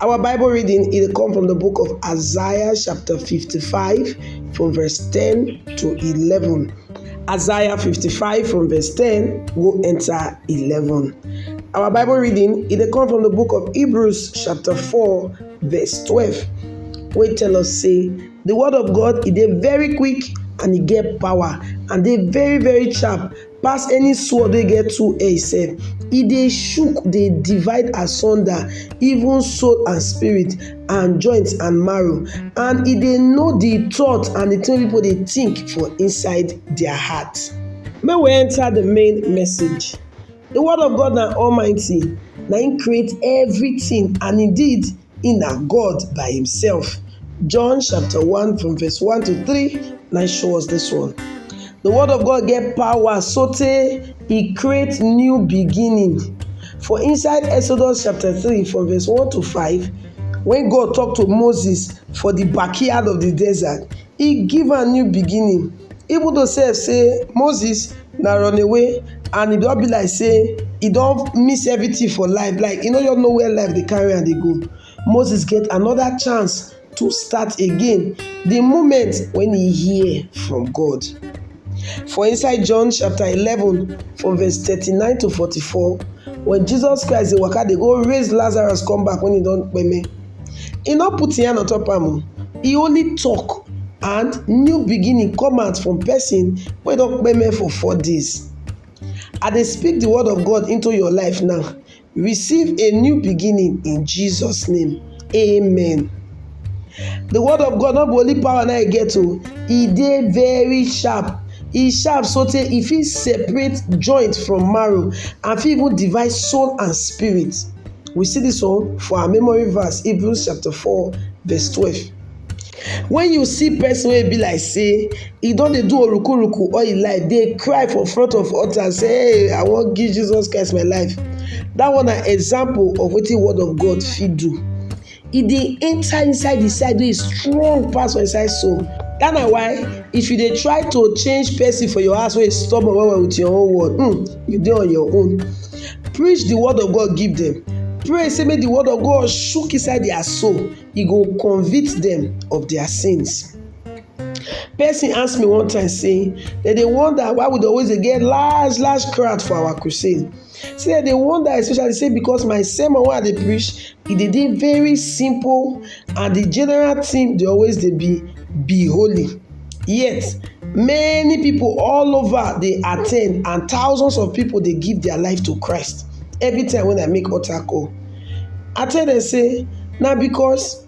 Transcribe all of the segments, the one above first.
Our Bible reading it come from the book of Isaiah chapter 55 from verse 10 to 11. Isaiah 55 from verse 10 go enter 11. Our Bible reading it come from the book of Hebrews chapter 4 verse 12. We tell us say the word of God is very quick and e get power and dey very very sharp pass any sword wey get two edge sef. E dey shook, dey divide asunder even soul and spirit and joint and marrow and e dey know the thought and the thing wey people dey think for inside their heart. Make we enter the main message. The word of God na almighty, na im create everything and indeed He na God by himself. John chapter 1 from verse 1 to 3 na show us this one. The word of God get power so tey e create new beginning. For inside Exodus chapter 3 from verse 1 to 5, when God talk to Moses for the backyard of the desert, e give am new beginning even though sef sey Moses na run away and e don be like sey e don miss everything for life like e no just know where life dey carry am dey go Moses get another chance to start again de moment when he hear from God for inside John chapter eleven from verse thirty nine to forty four when Jesus Christ dey waka dey go raise Lazarus come back when he don kpeme He no put him hand on top am o, he only talk and new beginning come out from person wey don kpeme for four days. I dey speak the word of God into your life now, receive a new beginning in Jesus name, amen. The word of God no be only power na e get o, e dey very sharp, e sharp sotey e fit separate joint from marrow and fit even divide soul and spirit. We see this one for our memory verse, Hebrews chapter 4, verse 12. When you see person wey be like say e don dey do orukuruku all im life, dey cry for front of altar and say, hey, I wan give Jesus Christ my life. That one na example of wetin word of God fit do. e dey enter inside the side wey strong pass for inside soul that na why if you dey try to change person for your house wey stubborn well well with your own word um you dey on your own preach the word of God give them pray say make the word of God shook inside their soul e go convict them of their sins. Person ask me one time say dem dey wonder why we dey always dey get large large crowd for our crusade See I dey wonder especially say because my sermon wey I dey preach e dey dey very simple and the general theme dey always dey be be holy yet many people all over dey attend and thousands of people dey give their life to Christ every time when I make altar call. I tell dem say na because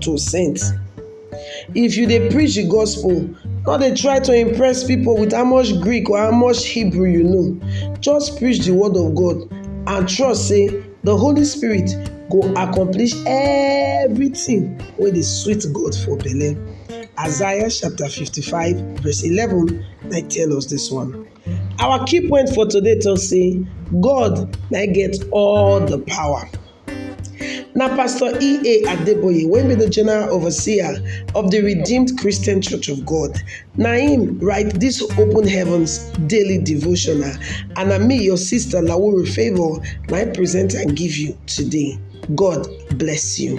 to saint. If you dey preach de gospel no dey try to impress pipu with how much Greek or how much Hebrew you know just preach de word of God and trust sey de holy spirit go accomplish everything wey dey sweet God for belle. Isaiah chapter fifty five verse eleven na im tell us dis one. Our key point for today talk sey God na im get all de power. Na Pastor E.A. Adeboye wey be the general overseer of the Redeemed Christian Church of God na him write this Open Heavens daily devotional and na me your sister Lawuru Favour na I present am give you today. God bless you.